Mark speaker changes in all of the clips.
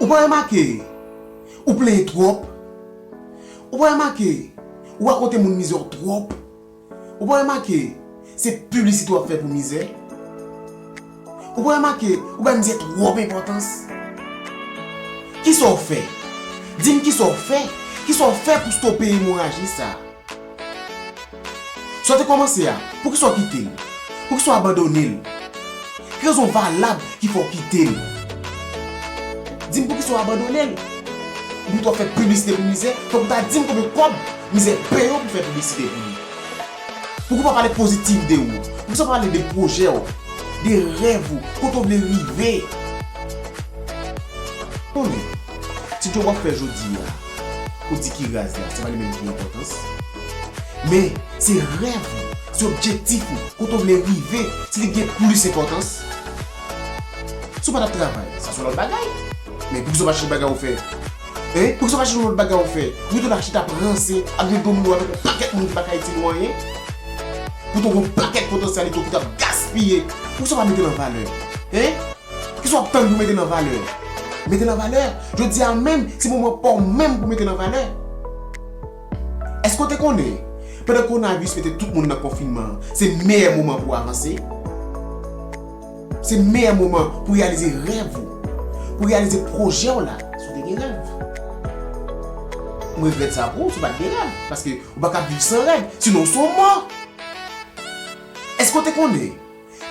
Speaker 1: Ou pa remake ou plenyen twòp? Ou pa remake ou rakonte moun mizè w twòp? Ou pa remake se piblisite w ap fè pou mizè? Ou pa remake ou bay mizè twòp enpòtans? Kisa w fè? Di m kisa w fè? Kisa w fè pou stope emoraji sa? Sa w te kòmanse a, poukisa w kite l? Poukisa w abandone l? Ki rezon valab ki fè w kite l? Di m poukisa w abandone l? Ou pito fè piblisite pou mizè, fòk ou ta di m konbyen kòb mizè peye w pou fè piblisite pou li. Pouki w pa pale pozitif de ou? Pouki w pa pale de pwojè w? De rèv ou? Kote w vle rive? Konnen, ti djob w ap fè jodi a, ou di ki raz la, se pa li menm ki enpòtans. Men, se rèv ou, se objektif ou, kote w vle rive, se li ki gen plis enpòtans. Si w pa t ap travay, sa se yon lòt bagay. Men, pouki w pa chèche bagay ou fè? Hein ou se pa chèche yon lot bagay ou fè pou tou la chita ap ranse ap jwe domino avèk yon pakèt moun ki pa ka itil ou anyen pou tou gon pakèt potansyalite ou ki tap gaspiye pou sa pa mete l an valè hein kisa wap tann pou mete l an valè mete l an valè jodi a menm se moman pa w menm pou mete l an valè èske ou te konnen pandan kowonaviris mete tout moun nan konfinman se meyè moman pou avanse. Se meyè moman pou reyalize rèv ou, pou reyalize pwojè w la si w te gen rèv. M regrèt sa pou ou si w pa t gen rèv, paske ou pa kab viv san rèv, sinon w se yon mò! Èske w te konnen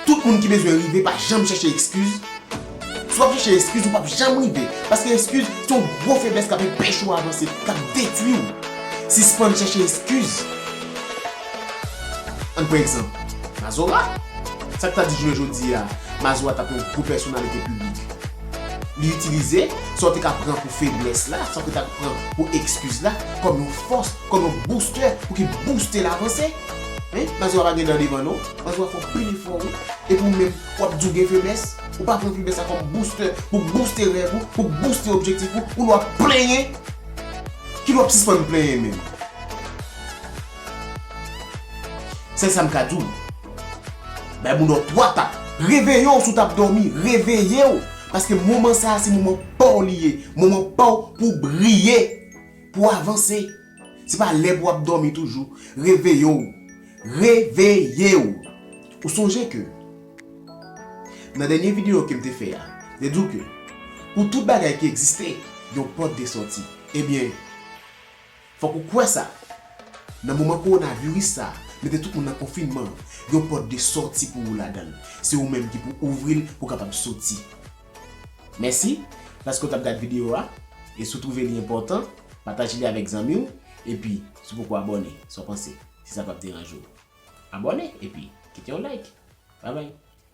Speaker 1: tout moun ki bezwen rive pa janm chèche ekskiz? Si w ap chèche ekskiz ou p ap janm rive, paske ekskiz se yon gwo feblès k ap enpeche w avanse, k ap detwi w. Sispann chèche ekskiz! Ann pran egzanp, Mazora. Sa k ta di jounen jodi a, Mazora t ap yon gwo pèsonalite piblik? Li itilize sa w te ka pran pou feblès la, sa w te ka pran pou ekskiz la, kòm yon fòs, kòm yon boustè pou ki bouste l avanse. Men, Mazora pa gen dan devan non. Mazora fè w pil efò wi. Epi ou menm, w ap di w gen feblès? Ou pa pran feblès la kòm boustè pou bouste rèv ou, pou bouste objektif ou, ou lè w ap plenyen? Kilè w ap sispann plenyen menm? Sèl sa m ka di w, bay moun nan 3 tap. Reveye w si w tap dòmi, reveye w! Paske moman sa a se moman pa w li ye, moman pa w pou w briye, pou w avanse. Se pa lè pou w ap dòmi toujou. Reveye w! Reveye w! Ou sonje ke nan dènye videyo ke m te fè a, m te di w ke pou tout bagay ki egziste, gen yon pòt de sòti. Ebyen. Fòk ou kwè sa! Nan moman kowonaviris sa a, mete tout moun nan konfinman an, yon pòt de sòti pou ou ladan l. Se ou menm ki pou ouvri l pou w kapab soti. Mèsi paske w t ap gad videyo a, e si w twouve li enpòtan, pataje li avèk zanmi w, epi si w poko abòne, sa w panse? Si sa p ap deranje w, abòne epi kite yon like! Babay!